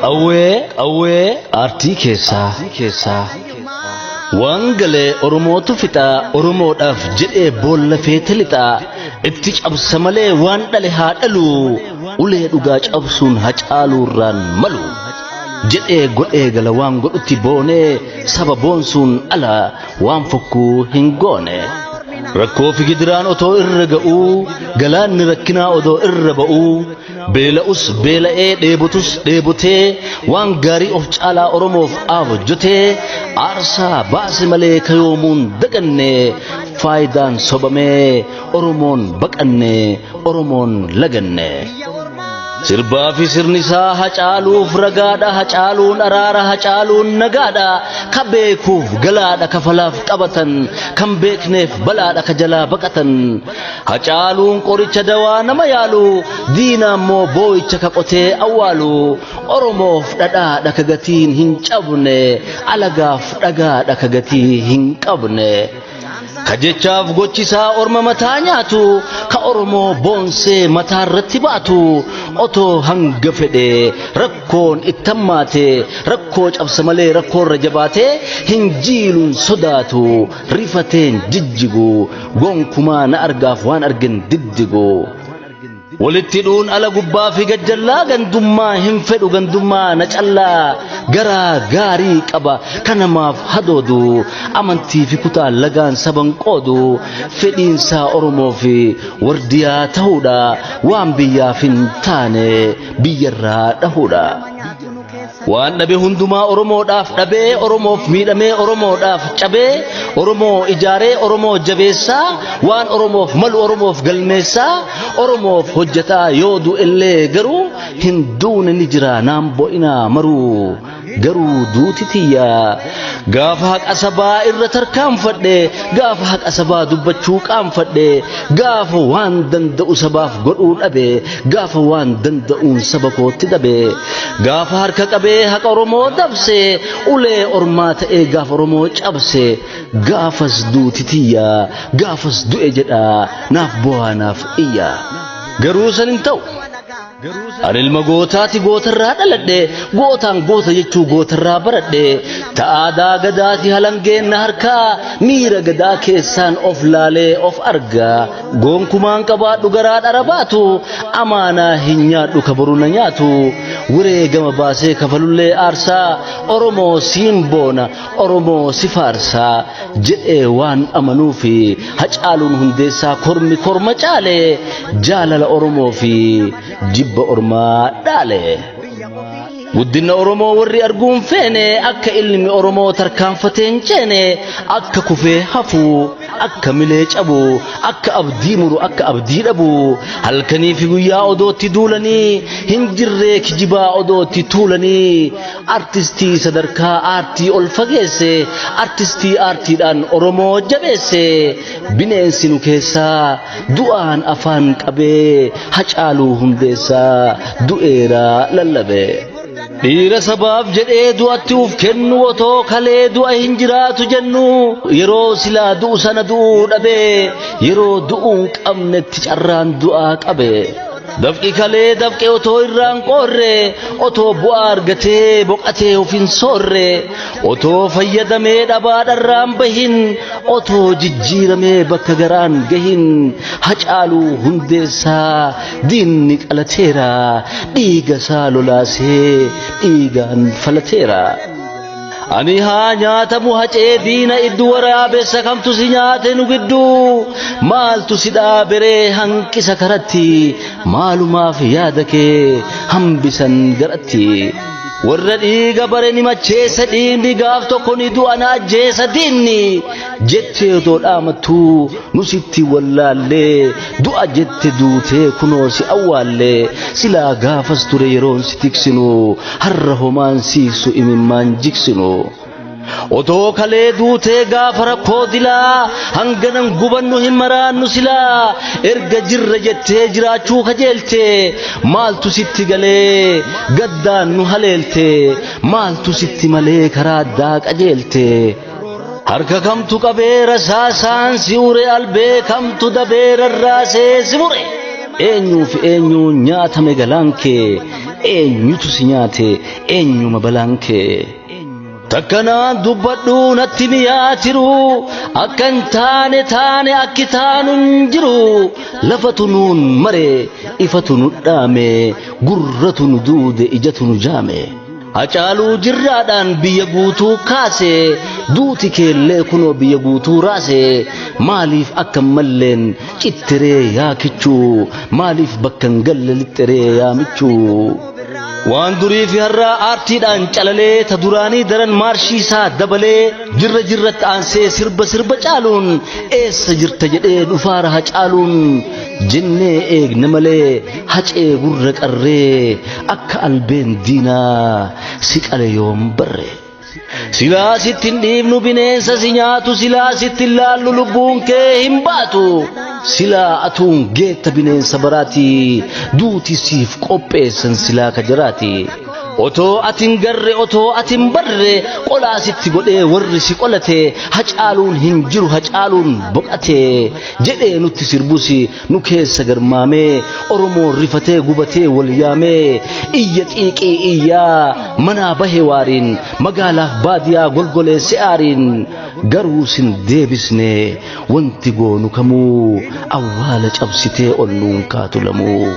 Qawwee qawwee aartii keessaa keessaa waan galee oromootu fixaa oromoodhaaf jedhee boolla feete lixaa itti cabsa malee waan dhale haa dhalu ulee dhugaa cabsuun hacaaluurraan malu jedhee godhee gala waan godhutti boonee saba boonsuun ala waan fokkuu hin goone. Rakkoo fi gidiraan otoo irra ga'uu galaanni rakkinaa odoo irra ba'uu beela'us beela'ee dheebotus dheebotee waan gaarii of caalaa oromoof aaf hojjetee aarsaa baase malee kayoomuun daganne faayidaan sobamee oromoon baqanne oromoon laganne. Sirbaa fi sirni isaa hacaaluuf ragaadha hacaaluun araara hacaaluun nagaadha ka beekuuf galaadha kafalaaf qabatan kan beekneef balaadha ka jalaa baqatan Hacaaluun qoricha dawaa nama yaalu diinaa immoo boo'icha ka qotee awwaalu oromoof dhadhaadha ka gatiin hin cabne alagaaf dhagaadha ka gatii hin qabne ka jechaaf gochisaa orma mataa nyaatu ka oromoo boonsee mataa irratti baatu otoo hanga fedhe rakkoon ittammaate rakkoo cabsa malee rakkoorra jabaate hin jiiluun sodaatu rifateen jijjiguu gonkumaa na argaaf waan argin diddiguu walitti dhuun ala gubbaa fi gajjallaa gandummaa hin fedhu gandummaa na callaa garaa gaarii qaba kanamaaf hadoodu amantii fi kutaa lagaan saban qoodu fedhiinsaa oromoo fi wardiyaa ta'uudha waan biyyaaf hin taane biyyarraa dhahuudha. waan dhabe hundumaa oromoodhaaf dhabee oromoof miidhamee oromoodhaaf cabee oromoo ijaaree oromoo jabeessaa waan oromoof malu oromoof galmeessaa oromoof hojjetaa yoo du'ellee garuu hin duune ni jira naan bo'inaa maruu garuu duuti tiyyaa gaafa haqa sabaa irra tarkaanfadhe gaafa haqa sabaa dubbachuu qaanfadhe gaafa waan danda'u sabaaf godhuu dhabe Gaafa waan danda'uun saba kootti dhabee gaafa harka qabee haqa Oromoo dabse ulee ormaa ta'ee gaafa Oromoo cabse gaafas duuti tiyyaa gaafas du'e jedhaa naaf bo'aa naaf iyyaa garuu san hin ta'u. Ani ilma gootaati gootarraa dhaladhe gootaan goota jechuu gootarraa baradhe ta'aadaa gadaati halangeen na harkaa miira gadaa keessaan of laalee of argaa. Gonkumaan qabaadhu garaa dhara baatu amaanaa hin nyaadhu ka boru na nyaatu wareegama baasee kafalullee aarsaa Oromoo siin boona Oromoo si faarsaa jedhee waan amanuu fi hacaaluun hundeessaa kormi korma caale jaalala Oromoo fi jibba ormaa dhaale. Guddinna Oromoo warri arguu hin feene akka ilmi Oromoo tarkaanfatee hin ceene akka kufee hafu akka milee cabu akka abdii muru akka abdii dhabu halkanii fi guyyaa odootti duulanii hin jirree kijibaa odootti tuulanii artistii sadarkaa aartii ol fageesse artistii aartiidhaan Oromoo jabeesse bineensi nu keessaa du'aan afaan qabee hacaaluu hundeessaa du'eera lallabe. Dhiira sabaaf jedhee du'atti uf kennu otoo kalee du'a hin jiraatu jennu yeroo silaa du'u sana du'uu dhabe yeroo du'uun qabnetti carraan du'aa qabe. Dafqi kalee dafqe otoo irraan qoorre otoo bu'aa argatee boqatee of hin soorre otoo fayyadamee dhabaadharraan bahin otoo jijjiiramee bakka garaan gahin hacaaluu hundeessaa diinni qalateera dhiiga isaa lolaasee dhiigaan falateera. Ami haa nyaatamu hacee diina iddu waraabessa kamtu si nyaate nu gidduu maaltu si dhaaberee hanqisa karatti maalumaaf yaada kee hambisan garatti. Warra dhiiga bare ni macheessa dhiigni gaaf tokko ni du'a na ajjeessa diinni jettee otoo dhaamattuu nu sitti wallaallee du'a jette duutee kunoo si awwaallee silaa gaafas ture yeroon si tiksinu harra homaan siiksu imimmaan jiksinu otoo kalee duutee gaafa rakkoo dilaa hanganan gubannu hin maraannu silaa erga jirra jettee jiraachuu kajeelte maaltu sitti galee gaddaan nu haleelte maaltu sitti malee karaa addaa qajeelte. Harka kamtu qabee rasaasaan si ure albee kamtu dabee rarraasee si mure. Eenyuuf eenyu nyaatame galaan kee eenyutu si nyaate eenyuma balaan kee. Takkanaa dubbadhu natti miyaa tiru akka hin taane taane akki taanu hin jiru lafatu nuun mare ifatu nu dhaame gurratu nu duude ijatu nu jaame. Hacaaluu jirraadhaan biyya guutuu kaase duuti keellee kunoo biyya guutuu raase maaliif akka hin malleen cittiree yaa kichuu maaliif bakka hin galle lixxiree yaa michuu. Waan durii fi har'aa aartiidhaan calalee ta duraanii daran maarshii isaa dabalee jirra jirratti aansee sirba sirba caaluun eessa jirta jedhee dhufaara hacaaluun jennee eegna malee hacee gurra qarree akka albeen diinaa si qale yoom barre silaa sitti hin dhiifnu bineensa si nyaatu silaa sitti hin laallu lubbuun kee hin baatu silaa atuun geetta bineensa baraati duuti siif qopheessan silaa ka jiraati otoo ati hin garre otoo ati hin barre qolaa sitti godhee warri si qolate hacaaluun hin jiru hacaaluun boqate jedhee nutti sirbusi Nu keessa garmaamee Oromoon rifatee gubatee wal yaamee iyya xiiqii iyyaa manaa bahe waariin magaalaaf baadiyaa golgoleesse aariin garuu sin deebisne wanti goonu kamuu awwaala cabsitee ol nuun kaatu lamuu.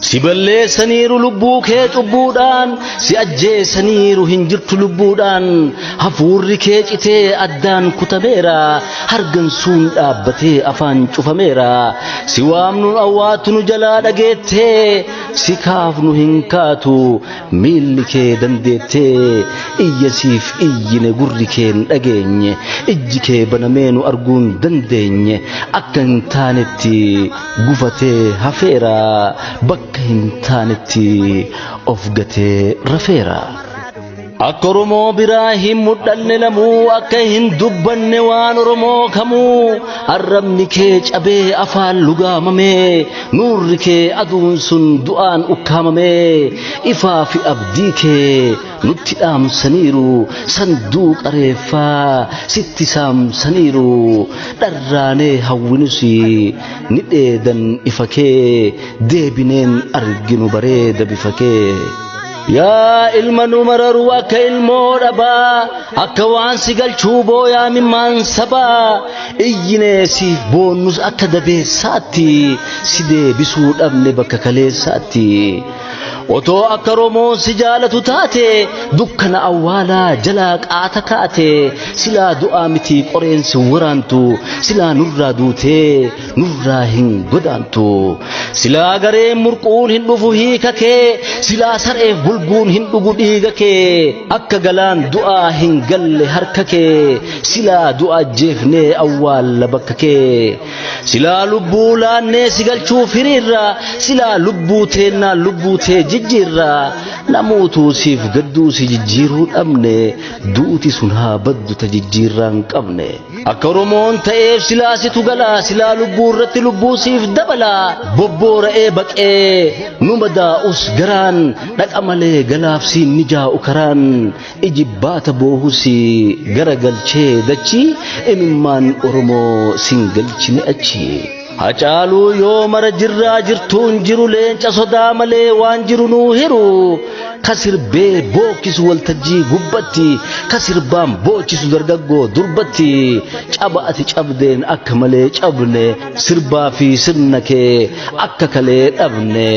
Si balleessaniiru lubbuu kee cubbuudhaan, si ajjeesaniiru hin jirtu lubbuudhaan, hafuurri kee citee addaan kutameera, hargansuun dhaabbatee afaan cufameera. Si waamnu awwaatu nu jalaa dhageettee, si kaafnu hin kaatu miilli kee dandeettee, iyya siif iyyine gurri kee hin dhageenye, ijji kee banamee nu arguu hin dandeenye, akka hin taanetti gufatee hafeera bakka hin taanetti of gatee rafeera. Akka Oromoo biraa hin mudhanne namuu akka hin dubbanne waan Oromoo kamuu arrabni kee cabee afaan lugaamamee nuurri kee aduun sun du'aan ukkaamamee ifaa fi abdii kee nutti dhaamsaniiru sanduuqa reeffaa sitti saamsaniiru dharraanee hawwinus ni dheedan ifa kee deebineen arginu bareeda bifa kee. Yaa ilma nu mararuu akka ilmoo dhabaa akka waan si galchuu booyaa mimmaan sabaa iyyinee siif boonnus akka dabeessaatti si deebisuu dhabne bakka kaleessaatti. Otoo akka Romoon si jaalatu taate dukkana awwaalaa jalaa qaata kaate silaa du'aa miti qoreen si waraantu silaa nurraa duutee nurraa hin godaantu silaa gareen murquun hin dhufu hiika kee silaa sareef bulguun hin dhugu dhiiga kee akka galaan du'aa hin galle harka kee silaa du'a ajjeefnee awwaalla bakka kee Silaa lubbuu laannee si galchuuf hiriirra silaa lubbuu teennaa lubbuu tee jijjiirra namootuu siif gadduu si jijjiiruu dhabne duuti sun haa baddu ta jijjiirraa hin qabne akka oromoon ta'eef silaa situ gala silaa lubbuu irratti lubbuu siif dabala bobboora'ee baqee nu madaa'us garaan dhaqa malee galaaf siin mijaa'u karaan Ijibbaata boohu si garagalchee dachi imimmaan Oromoo sin galchine achi. Hacaaluu yoo mara jirraa jirtuun jiru leenca sodaa malee waan jiru nuu hiru ka sirbee bookkisu waltajjii gubbatti ka sirbaan boochisu dargaggoo durbatti caba ati cabdeen akka malee cabne sirbaa fi sirna kee akka kalee dhabne.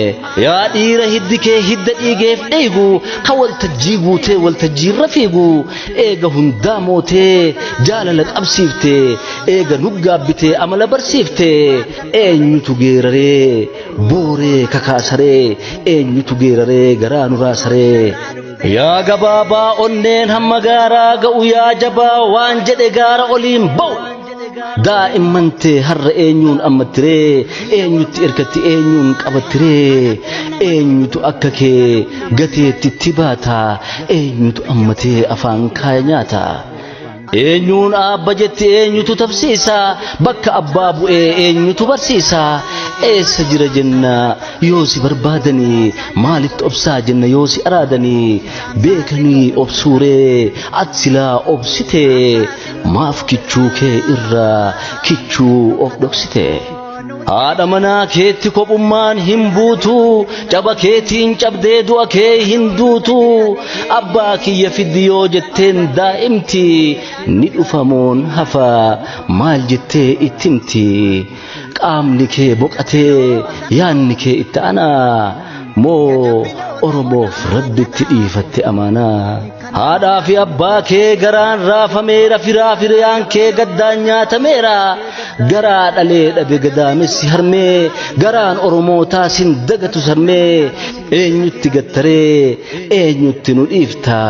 Yaa dhiira hiddi kee hidda dhiigeef dhiigu ka waltajjii guutee waltajjiirra fiigu eega hundaa mootee jaalala qabsiifte eega nuggaabbitee amala barsiifte eenyutu geeraree booree kakaasaree eenyutu geeraree garaa nuraa saree. Yaa gabaabaa onneen hamma gaaraa ga'u yaa jabaa waan jedhe gaara oliin ba'u. Daa'imman tee har'a eenyuun ammattiree eenyutti erkatti eenyuun qabattiree eenyutu akka kee gateetti itti baata eenyutu ammatee afaan kaaya nyaata. Eenyuun aabba jetti eenyutu tabsiisa bakka abbaa bu'ee eenyutu barsiisa eessa jira jenna yoo si barbaadanii maalitti obsaa jenna yoo si araadanii beekanii obsuuree at silaa obsitee maaf kichuu kee irra kichuu of dhoksitee. Haadha manaa keetti kophummaan hin buutu caba keetiin cabdee du'a kee hin duutu abbaa kiyya fiddi yoo jetteen daa'imti ni dhufamoon hafa maal jettee itti himti qaamni kee boqatee yaanni kee itti anaa moo oromoof rabbitti dhiifatte amaanaa. Haadhaa fi abbaa kee garaan raafameera firaa firiyaan kee gaddaan nyaatameera garaa dhalee dhabe gadaamessi harmee garaan oromootaa sin dagatu sarmee eenyutti gattaree eenyutti nu dhiifta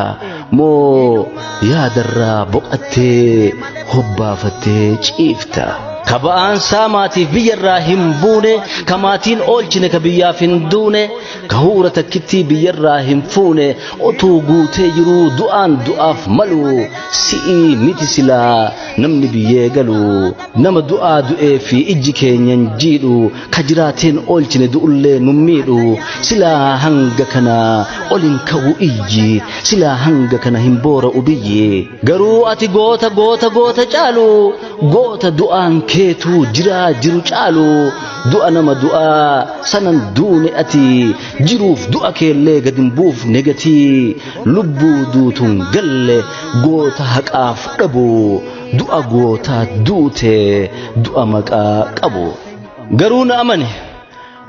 moo yaadarraa boqattee hobbaafattee ciifta. ka ba'aan saamaatiif biyyarraa hin buune ka maatiin oolchine ka biyyaaf hin duune gahuura takkittii biyyarraa hin fuune otuu guutee jiruu du'aan du'aaf malu si'ii miti silaa namni biyyee galu nama du'aa du'ee fi ijji keenyan jiidhu ka jiraateen oolchine du'ullee nu miidhu silaa hanga kana ol hin ka'u iyyi silaa hanga kana hin boora'u biyyi Garuu ati goota goota goota caalu goota du'aan keetuu jiraa jiru caalu du'a nama du'aa sanan duune ati jiruuf du'a keellee gad hin buufne gatii lubbuu duutuun galle goota haqaaf dhabu du'a gootaa duute du'a maqaa qabu garuu na amane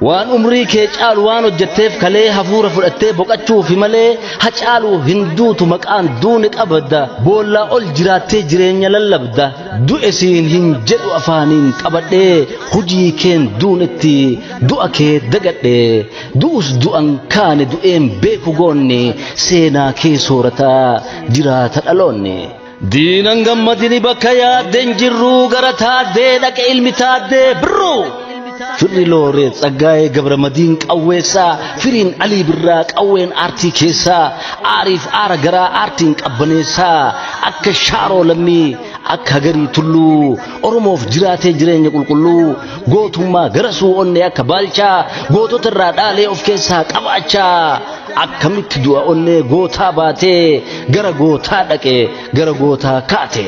waan umrii kee caalu waan hojjetteef kalee hafuura fudhattee boqachuufi malee ha caalu hin duutu maqaan duuni qabda boollaa ol jiraattee jireenya lallabda du'e siin hin jedhu afaaniin qabadhee hujii keen duunetti du'a kee dagadhe du'us du'an kaane du'een beeku goonni seenaa kee soorataa jiraata dhaloonni. Diinan gammadini bakka yaadden jirruu gara taaddee dhaqa ilmi taaddee birruu. Firri looree tsaggaa'ee gabramadiin qawweessaa firiin alii birraa qawween aartii keessaa aariif aara garaa aartiin qabbaneessaa akka shaaroo lammii akka hagarii tulluu oromoof jiraatee jireenya qulqulluu gootummaa garasuu onnee akka baalchaa gootota irraa dhaalee of keessaa qabaachaa akkamitti du'a onnee gootaa baatee gara gootaa dhaqe gara gootaa kaate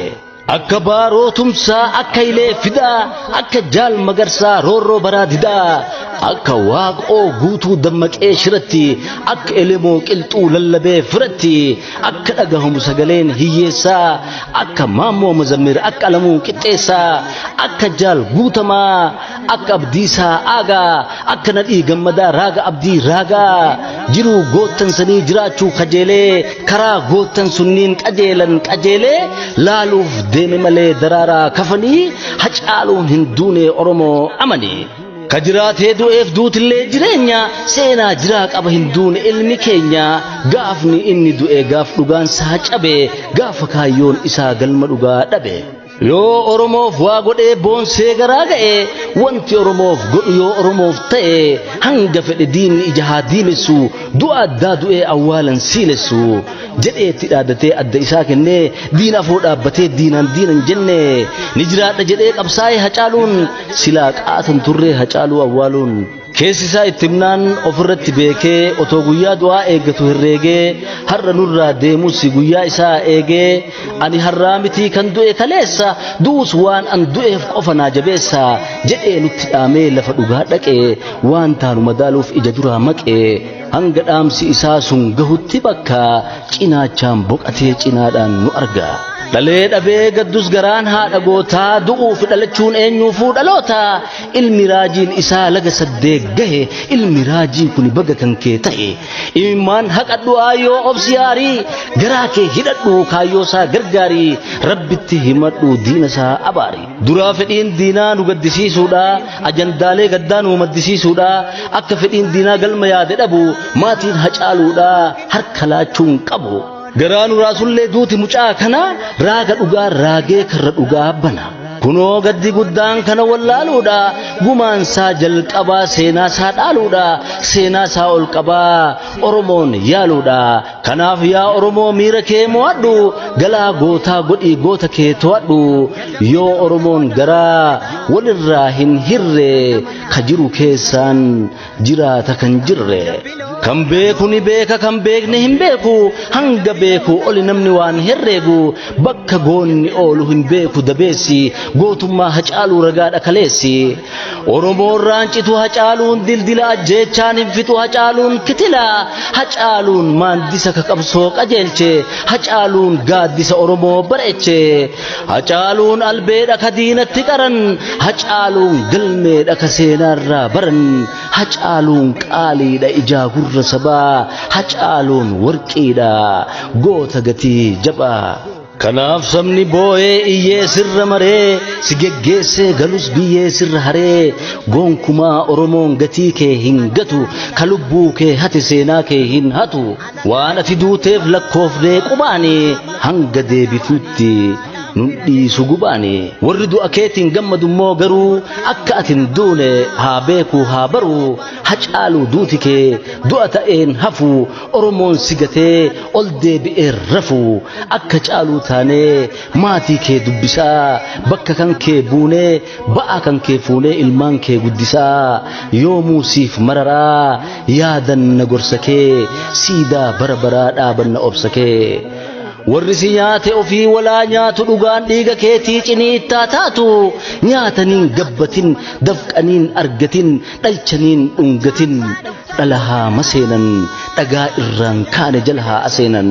akka baaroo tumsaa akka ilee fidaa akka jaal magarsaa roorroo baraa didaa akka waaqoo guutuu dammaqee shiratti akka elemoo qilxuu lallabee firatti akka dhagahamu sagaleen hiyyeessaa akka maammoo mazammir akka alamuu qixxeessaa akka jaal guutamaa akka abdii saa'aagaa akka nadhii gammadaa raaga abdii raagaa jiruu goottan sanii jiraachuu kajeelee karaa goottan sunniin qajeelan qajeelee laaluuf deeme malee daraaraa kafanii hacaaluun hin duune oromoo amanii. ka jiraatee du'eef duutillee jireenya seenaa jiraa qaba hin duune ilmi keenya gaafni inni du'e gaaf dhugaan isaa cabe gaafa kaayyoon isaa galma dhugaa dhabe. Yoo Oromoof waa godhee boonsee garaa ga'e wanti Oromoof godhu yoo Oromoof ta'e hanga fedhe diinni ija haa diimessu du'a addaa du'ee awwaalan siilessu jedhee itti dhaadatee adda isaa kennee diina afoo dhaabbatee diinaan diinan jenne ni jiraadha jedhee qabsaa'ee hacaaluun silaa qaatan turree hacaaluu awwaaluun. Keessi isaa itti himnaan ofirratti beekee otoo guyyaa du'aa eeggatu herreegee har'a nurraa deemus guyyaa isaa eegee ani har'aa mitii kan du'e kaleessa du'us waan an du'eef qofa naa jabeessa jedhee nutti dhaamee lafa dhugaa dhaqee waan taanu madaaluuf ija duraa maqee hanga dhaamsi isaa sun gahutti bakka cinaachaan boqatee cinaadhaan nu arga. Dhalee dhabee gaddus garaan haadha gootaa du'uuf dhalachuun eenyuufuu dhaloota ilmi raajiin isaa laga saddee gahe ilmi raajii kun baga kan kee ta'e imimmaan haqadhu aayoo obsi aarii garaa kee hidhadhu kaayyoo isaa gargaarii rabbitti himadhu diina isaa abaari duraa fedhiin diinaa nu gaddisiisuudha ajandaalee gaddaa nu maddisiisuudha akka fedhiin diinaa galma yaade dhabu maatiin hacaaluudha harka laachuun qabu Garaa nuraa sullee duuti mucaa kana raaga dhugaa raagee karra dhugaa bana. Kunoo gaddi guddaan kana wallaaluudha gumaan isaa jalqabaa seenaa isaa dhaaluudha seenaa isaa ol qabaa Oromoon yaaluudha kanaaf yaa Oromoo miira kee mo'adhu galaa gootaa godhii goota kee to'adhu yoo Oromoon garaa walirraa hin hirre ka jiru keessaan jiraata kan jirre kan beeku ni beeka kan beekne hin beeku hanga beeku oli namni waan herreegu bakka goonni oolu hin beeku dabeessi gootummaa hacaaluu ragaadha kaleessi oromoon raancitu hacaaluun dildila ajjeechaan hin fixu hacaaluun kitila hacaaluun maandisa ka qabsoo qajeelche hacaaluun gaaddisa oromoo bareeche Hacaaluun albeedha ka diinatti qaran, hacaaluun galmeedha ka seenaarraa baran, hacaaluun qaaliidha ijaa gurra sabaa, hacaaluun warqiidha goota gatii jabaa. Kanaaf sabni boo'ee iyyee sirra maree, si geggeessee galus biyyee sirra haree, gonkumaa Oromoon gatii kee hin gatu, ka lubbuu kee hate seenaa kee hin hatu. Waan ati duuteef lakkoofnee qubaani hanga deebituutti nun dhiisu gubaani. Warri du'a keetiin gammadu immoo garuu akka ati hin duune haa beekuu haa baruu hacaaluu duuti kee du'a ta'een hafu Oromoon si gatee ol deebi'ee rafu akka caaluu taanee maatii kee dubbisaa bakka kan kee buunee Ba'aa kan kee fuunee ilmaan kee guddisaa yoomuu siif mararaa yaadanna gorsa kee siidaa bara baraa dhaabanna obsa kee. Warri si nyaate ofii walaa nyaatu dhugaan dhiiga keetii ciniittaa taatu nyaataniin gabbatin dafqaniin argatin dhalchaniin dhungatin dhala haa maseenan dhagaa irraan kaane jala haa aseenan.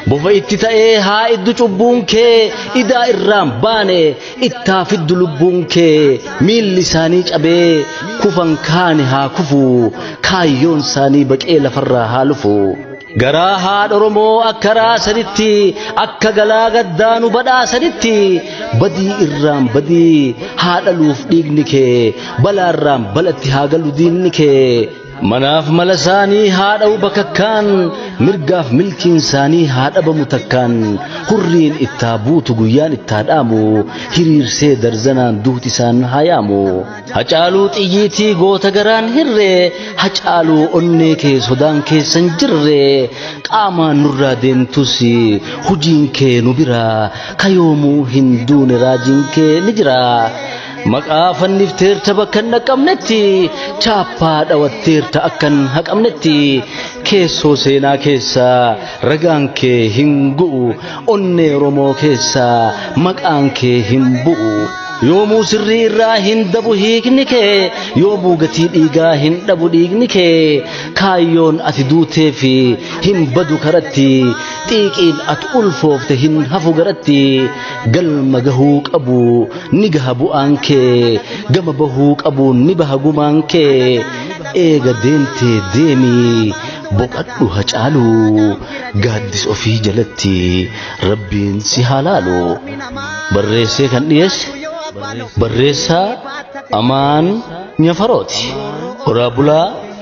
Bofa itti ta'ee haa iddu cubbuun kee idaa irraan baane ittaa fiddu lubbuun kee miilli isaanii cabee kufan kaani haa kufu kaayyoon isaanii baqee lafarraa haa lufu garaa haadha oromoo akka raasanitti akka galaa gaddaa nu badhaasanitti badii irraan badii haa dhaluuf dhiigni kee balaarraan balatti haa galu diinni kee Manaaf mala isaanii haa dha'u bakakkaan mirgaaf milkiin isaanii haa dhabamu takkaan hurriin ittaa buutu guyyaan ittaa dhaamu hiriirsee darzanaan duuti isaan haa yaamu. Hacaaluu xiyyiitii goota garaan hirree hacaaluu onnee kee sodaan keessan jirre qaamaan nurraa deemtus hujiin kee nu bira kayoomuu hin duune raajiin kee ni jira. Maqaa fannifteerta bakka hin dhaqqabnetti chaappaa dhawatteerta akka hin haqamnetti keessoo seenaa keessaa ragaan kee hin gu'u onnee Oromoo keessaa maqaan kee hin bu'u. Yoomuu sirrii irraa hin dabu hiikni kee yoomuu gatii dhiigaa hin dhabu dhiigni kee kaayyoon ati duutee fi hin badu karatti xiiqiin ati ulfoofte hin hafu garatti galma gahuu qabu ni gaha bu'aan kee gama bahuu qabu ni baha gumaan kee eega deemtee deemii boqadhu hacaalu gaaddis ofii jalatti rabbiin si haa laalu barreessee kan dhiyeesse barreessaa amaan nyafarooti oraa bulaa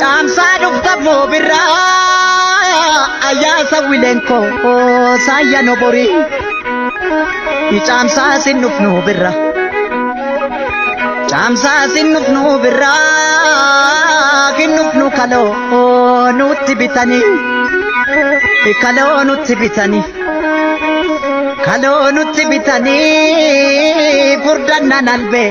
Caamsaa dhufta boobirraa ayyaasa wileen koo saayya no borii. Caamsaa sin dhufnu birra. Caamsaa sin dhufnu birra kin dhufnu kaloo nutti bitanii. Kaloo nutti bitanii. Kaloo nutti bitanii furdannaan albee.